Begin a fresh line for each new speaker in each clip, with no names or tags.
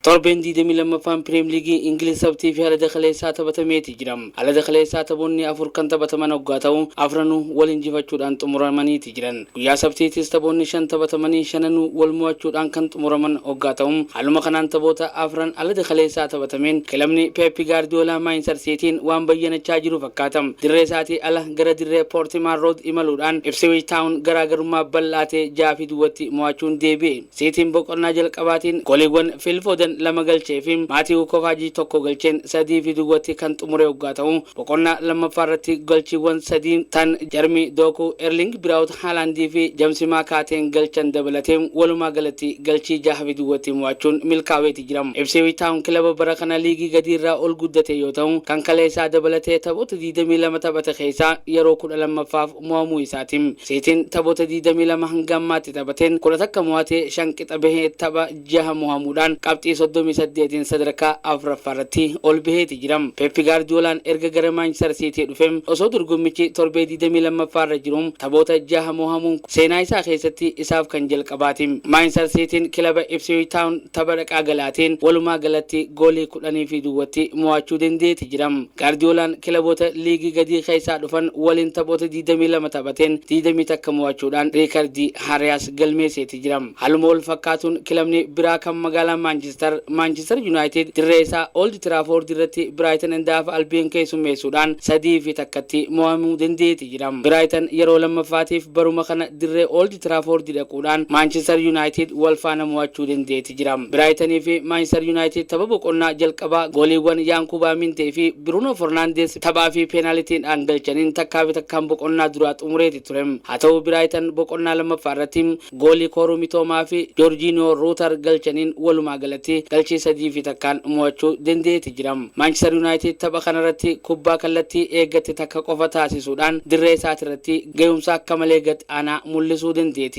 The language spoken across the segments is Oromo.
Torbeen 22ffaan Piriim Liigii Ingiliz Sabtii fi Alada kaleessaa taphatameeti jira. Alada kaleessaa taphoonni afur kan taphataman oggaa ta'u, afranuu wal injifachuudhaan xumuramaniiti jiran. Guyyaa Sabtiitis taphoonni shan taphatamanii shananuu wal mo'achuudhaan kan xumuraman oggaa ta'u, haaluma kanaan taphoota afran alada kaleessaa taphatameen kilabni Peep Gaardiyoolaa Maayinstar Siitiin waan bayyanachaa jiru fakkaata. Dirree isaatii ala gara dirree Poortimaan Rood imaluudhaan Ipsiwiich Taawun garaagarummaa bal'aa ta'e 6 fi duwwatti mo'achuun deebi'e. Siitiin boqonnaa jalqabaatiin gooliiwwan Fiil Fooden lama galchee fi Maatiiwu Kovaajii tokko galcheen sadii fi duwwatti kan xumure oggaa ta'u, boqonnaa lammaffaa irratti galchiiwwan sadii tan Jarmii Dookuu, Erliing Biraawut Haalaandii fi Jamsi Maakaateen galchan dabalatee walumaa galatti galchii jaha fi duwwatti mo'achuun milkaaweeti jira. Ipsiwiich Taawun kilaba bara kana liigii gadii irraa ol guddate yoo ta'u, kan kaleessaa dabalatee taphoota 22 taphate keessaa yeroo 12ffaaf mo'amuu isaati. Siitiin taphoota 22 hanga ammaatti taphateen 11 mo'atee 5 qixa bahee tapha 6 mo'amuudhaan qabxii 38n sadarkaa 4ffaa irratti ol baheeti jira. Peep Gaardiyoolaan erga gara Maanchister Siitii dhufe osoo dorgommichi torbee 22ffaa irra jiru taphoota 6 mo'amuun kun seenaa isaa keessatti isaaf kan jalqabaati. Maanchister Siitiin kilaba Ipsiwiich Taawun tapha dhaqaa galaatiin walumaa galatti goolii 10 fi duwwatti mo'achuu dandeeti jira. Gaardiyoolaan kilaboota liigii gadii keessaa dhufan waliin taphoota 22 taphateen 21 mo'achuudhaan riikardii haarayaas galmeesseeti jira. Haaluma wal fakkaatuun kilabni biraa kan magaalaa Maanchistar, Maanchistar Yunaayitid dirree isaa Old Tiraafoord irratti Biraayitan and Haaf Albiyon keessummeessuudhaan 3 fi 1tti mo'amuu danda'eeti jira. Biraayitan yeroo lammaffaatiif baruma kana dirree Old Tiraafoord dhaquudhaan Maanchistar Yunaayitid wal faana mo'achuu danda'eeti jira. jira. Biraayitan fi Maanchistar Yunaayitid tapha boqonnaa jalqabaa gooliiwwan Yaankuubaa Mintee fi Biruunoo Fernaandeez taphaa fi peenaalitiidhaan galchaniin takkaa fi takkaan boqonnaa duraa xumureeti ture. Haa ta'uu Biraayitan boqonnaa lammaffaa irratti goolii Kooruu Mitoomaa fi Joorjiiniyoo Ruutar galchaniin walumaa galatti galchii sadii fi takkaan mo'achuu danda'eeti jira. Maanchistar Yunaayitid tapha kana irratti kubbaa kallattii eeggatte takka qofa taasisuudhaan dirree isaati irratti gahumsa akka malee gad aanaa mul'isuu danda'eeti.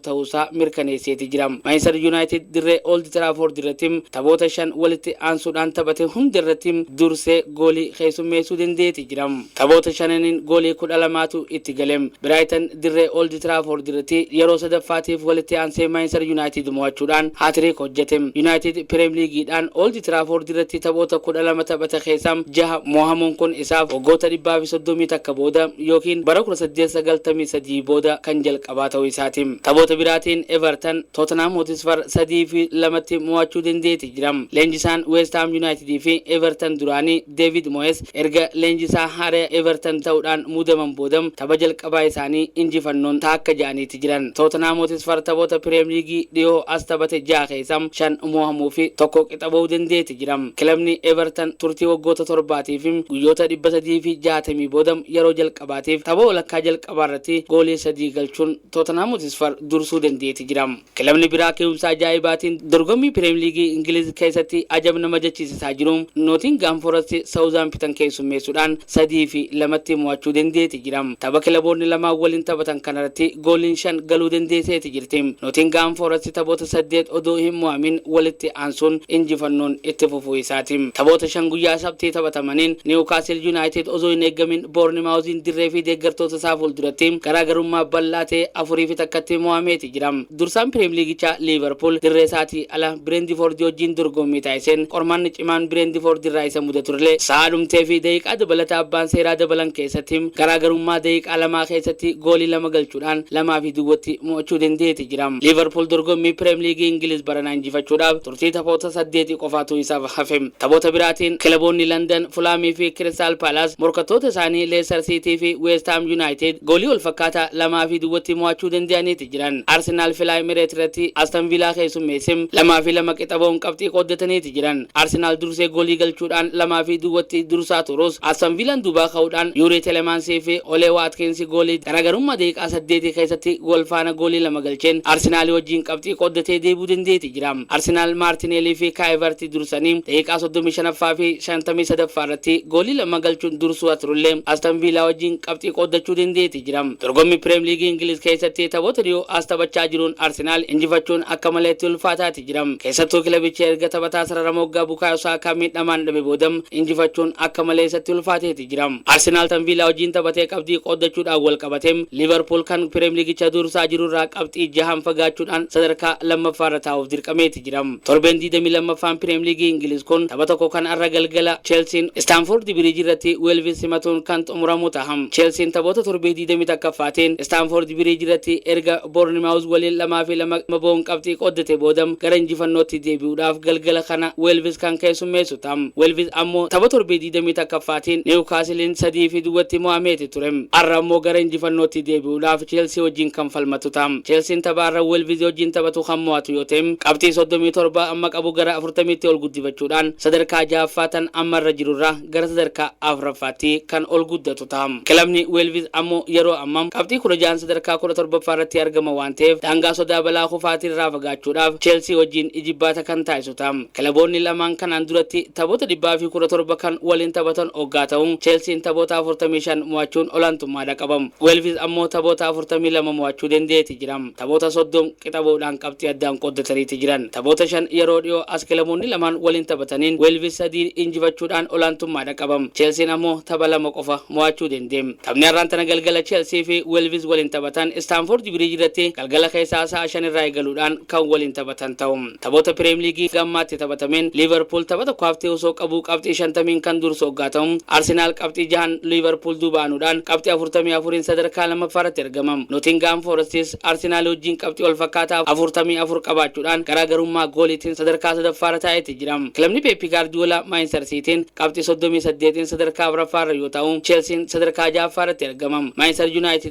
ta'uusaa mirkaneesseeti jira. Maanchister Yunaayitid dirree Old Trafford irratti taphoota shan walitti aansuudhaan taphate hunda irratti dursee goolii keessummeessuu danda'eeti jira. Taphoota shananiin goolii kudha lamaatu itti gale. Biraayitan dirree Old Trafford irratti yeroo sadaffaatiif walitti aansee Maanchister Yunaayitid mo'achuudhaan haatiriik hojjete. Yunaayitid Pireem Liigiidhaan Old Trafford irratti taphoota kudha lama taphate keessaa jaha mo'amuun kun isaaf waggoota dhibbaa fi soddomii takka booda ykn bara kudha saddeet sagaltamii sadii booda kan jalqabaati. taphaa ta'uu isaati. Taphoota biraatiin Evertan Tottenham Hotspur 3 fi 2tti mo'achuu dandeeti jira. Leenjisaan West Ham United fi Evertan duraanii David Moyes erga leenjisaa haaraya Evertan ta'uudhaan muudaman booda tapha jalqabaa isaanii injifannoon taakkaja'aniiti jiran. Tottenham Hotspur taphoota Pirem Liigii dhihoo as taphate 6 keessa 5 mo'amuu fi 1 qixa ba'uu dandeeti jira. Kilabni Evertan turtii waggoota torbaatiif guyyoota 360 booda yeroo jalqabaatiif tapha walakkaa jalqabaa taphaarratti goolii sadii galchuun Tootanhaam Hotisfar dursuu dandeeti jira. Kilabni biraa ke'umsa ajaa'ibaatiin dorgommii Pireem Liigii Ingiliiz keessatti ajab nama jechisisaa jiru Nootingaam Forasti Sawuzaampitan keessummeessuudhaan 3 fi 2tti mo'achuu dandeeti jira. Tapha kilaboonni lamaan waliin taphatan kanarratti gooliin 5 galuu dandeeseeti jirti. Nootingaam Forasti taphoota 8 odoo hin mo'amin walitti aansuun injifannoon itti fufuu isaati. Taphoota 5 guyyaa Sabtii taphatamaniin Niwukaasil Yunaayitid osoo hin eeggamin Boornimaawuziin dirree fi deeggartoota isaa fuulduratti garaagarummaa bal'aa ta'e afurii fi takkatti mo'ameeti jira. Dursaan Piriimliigichaa Liivarpuul dirree isaatii ala Bireendifoordi wajjin dorgommii taasiseen qormaanni cimaan Bireendifoordi irraa isa mudaturlee sa'a dhumtee fi daqiiqaa dabalataa abbaan seeraa dabalan keessatti garaagarummaa daqiiqaa lamaa keessatti goolii lama galchuudhaan 2 fi duwwatti mo'achuu danda'eeti jira. Liivarpuul dorgommii Piriimliigii Ingiliiz baranaa injifachuudhaaf Murtii taphoota saddeetii qofaatu isaaf hafe. Taphoota biraatiin kilaboonni Landan, Fulaamii fi Kiristaal Paalaas morkattoota isaanii Leestar Siitii fi Weest Haam Yunaayitid goolii walfakkaataa 2 fi duwwatti mo'achuu danda'aniiti jiran. Arsenaal Filaa Emireet irratti Aston Viilaa keessummeesse 2 fi 2 qixa ba'uun qabxii qooddataniiti jiran. Arsenaal dursee goolii galchuudhaan 2 fi duwwatti dursaa turus Aston Viilaan duubaa ka'uudhaan Yuurii Telemaansii fi Olee Waatkiinsi goolii garaagarummaa daqiiqaa saddeetii keessatti wal faana goolii lama galcheen Arsenaalii wajjin qabxii qooddatee deebi'uu danda'eeti jira. jira. Arsenaal Maartineelii fi Kaayivarti dursanii daqiiqaa 35ffaa fi 53ffaa irratti goolii lama galchuun dursuu turullee Aston Viilaa wajjin qabxii qooddachuu dandeeti jira. Dorgommii Pireem Liigii Ingiliz keessatti taphoota dhiyoo as taphachaa jiruun Arsenaal injifachuun akka malee itti ulfaataati jira. Keessattuu kilabichi erga taphataa sarara moggaa Bukaayoo Saakaa miidhamaan dhabe booda injifachuun akka malee isatti ulfaateeti jira. Liiverpuulitti jira. Arsenaal tan Viilaa wajjiin taphatee qabxii qooddachuudhaan wal qabate Liiverpuul kan Pireemliigicha dursaa jiru irraa qabxii jahaan fagaachuudhaan sadarkaa lammaffaa irra taa'uuf dirqameeti jira. Torbeen 22ffaan Pireemliigii Ingiliiz kun tapha tokko kan arra galgala Cheelsiin Istaanfoordi Biriiji irratti Weelvis simatuun kan xumuramu taha. Cheelsiin taphoota torbee 21ffaatiin Istaanfoordi Biriiji irratti erga Boornimaawuz waliin 2 fi 2 bahuun qabxii qooddate booda gara injifannootti deebi'uudhaaf galgala kana Weelvis kan keessummeessu taha. Tam. Welvis ammoo tapha torbee 21ffaatiin Niwukaasiliin 3 fi duwwatti mo'ameeti ture. Arra ammoo gara injifannootti deebi'uudhaaf Cheelsii wajjiin kan falmatu ta'a. Cheelsiin tapha arra Welvis wajjiin taphatu kan mo'atu yoo ta'e qabxii 37 amma qabu gara 40tti ol guddifachuudhaan sadarkaa 6ffaa tan amma irra jirurraa gara sadarkaa 4ffaatti kan ol guddatu ta'a. Kilabni Welvis ammoo yeroo amma qabxii 16n sadarkaa 17ffaarratti argama waan ta'eef daangaa sodaa balaa kufaatiirraa fagaachuudhaaf Cheelsii wajjiin ijibbaata kan taasisu ta'a. Tootaam. Kilaboonni lamaan kanaan duratti taphoota 117 kan waliin taphatan oggaa ta'u, Cheelsiin taphoota 45 mo'achuun olaantummaadha qaba. Weelviz ammoo taphoota 42 mo'achuu dendeeti jira. Taphoota 30 qixa ba'uudhaan qabxii addaan qooddataniiti jiran. Taphoota shan yeroo dhiyoo as kilaboonni lamaan waliin taphataniin Weelviz sadiin injifachuudhaan olaantummaadha qaba. Cheelsiin ammoo tapha lama qofa mo'achuu dende. Taphni har'aan tana galgala Cheelsii fi Weelviz waliin taphatan Istaanfoordi Biriij irratti galgala keessaa sa'a 5 irraa eegaluudhaan kan waliin taphatan ta'u. Taphoota Pireem Liigii hanga ammaatti taphatameen Liivarpuul tapha tokko haftee osoo qabuu qabxii 50n kan dursu oggaa ta'u, Arsenaal qabxii jahaan Liivarpuul duuba aanuudhaan qabxii 44n sadarkaa lammaffaarratti argama. Notingahaam Foorestis Arsenaalii wajjin qabxii walfakkaataa 44 qabaachuudhaan garaagarummaa gooliitiin sadarkaa sadaffaarra taa'eeti jira. Kilabni Peeppi Gaardiyoolaa Maanchister Siitiin qabxii 38n sadarkaa afraffaarra yoo taa'u, Cheelsiin sadarkaa jahaffaarratti argama. Maanchister Yunaayitid.